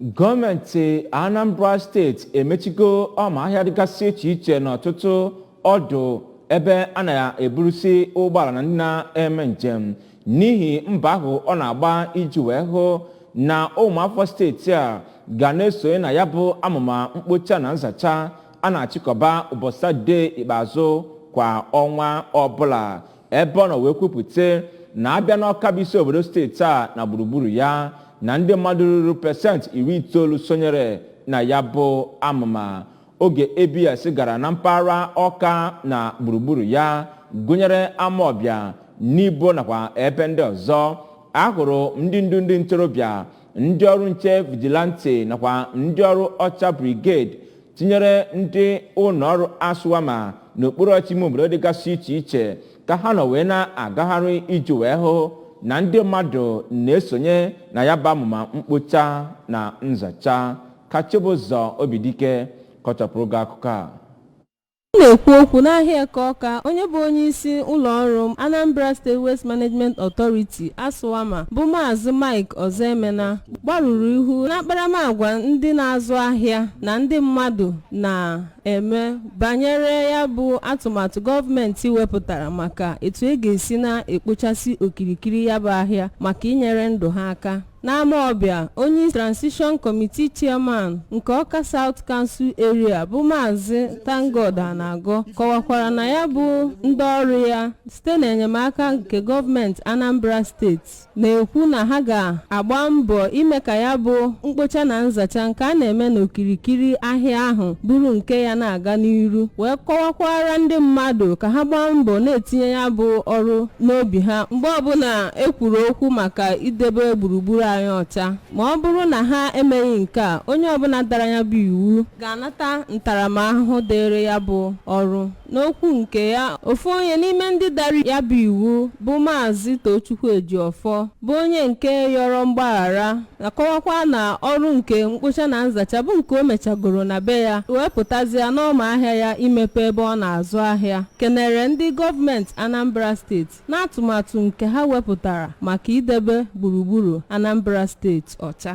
gọọmenti anambra steeti emechigo ọma ahịa dịgasị iche iche n'ọtụtụ ọdụ ebe a na-eburusi ụgbọala na ndị na-eme njem n'ihi mbọ ahụ ọ na-agba iji wee hụ na ụmụafọ steeti a ga na-esonye na ya bụ amụma mkpocha na nzacha a na-achịkọba ụbọchị satọdee ikpeazụ kwa ọnwa ọbụla ebe ọ nọ wee kwupụta na a bịa n'ọka bụ isi obodo steeti a na gburugburu ya na ndị mmadụ ruru pesentị iri itoolu sonyere na ya bụ amụma oge abs gara na mpaghara ọka na gburugburu ya gụnyere amawbịa nibo nakwa ebe ndị ọzọ a hụrụ ndị ndu ndị ntorobịa ndị ọrụ nche vigilante nakwa ndị ọrụ ọcha brigade tinyere ndị ụlọọrụ aswama n'okpuru ọchịchị ime obodo dịgasị iche iche ka ha nọ wee na-agagharị iji wee hụ na ndị mmadụ na-esonye na ya bụ amụma mkpocha na nzacha ka chibụzọ obidike kọchapụrụ gị akụkọ a Na-ekwu okwu n'ahịa Eke Ọka, onye bụ onyeisi ụlọọrụ Anambra State Waste Management Authority, ASWAMA, bụ Maazị Mike Ozoemena gbarụrụ ihu n'akparamagwa ndị na-azụ ahịa na ndị mmadụ na-eme banyere ya bụ atụmatụ gọọmenti wepụtara maka etu e ga-esi na-ekpochasị okirikiri ya bụ ahịa maka inyere ndụ ha aka. N'Amawbịa, onye Transition Committee Chairman nke Awka South Council Area bụ Maazị Thank-God Anagọ kọwakwara na ya bụ ndị ọrụ ya site n'enyemaka nke gọọmenti Anambra steeti na-ekwu na ha ga-agba mbọ ime ka ya bụ mkpocha na nzacha nke a na-eme n'okirikiri ahịa ahụ bụrụ nke ya na-aga n'iru wee kọwakwaara ndị mmadụ ka ha gbaa mbọ na-etinye ya bụ ọrụ n'obi ha mgbe ọbụla e kwuru okwu maka idebe gburugburu anyị ọcha ma ọ bụrụ na ha emeghị nke a onye ọbụla dara ya bụ iwu ga-anata ntaramahụhụ dịịrị ya bụ ọrụ n'okwu nke ya ofu onye n'ime ndị dara ya bụ iwu bụ maazị Tochukwu Ejiofor bụ onye nke yọrọ mgbaghara na-akọwakwa na ọrụ nke mkpocha na nzacha bụ nke o mechagoro na be ya wee pụtazịa n'ọma ahịa ya imepe ebe ọ na-azụ ahịa kenere ndị gọọmenti Anambra steeti n'atụmatụ nke ha wepụtara maka idebe gburugburu Anambra steeti ọcha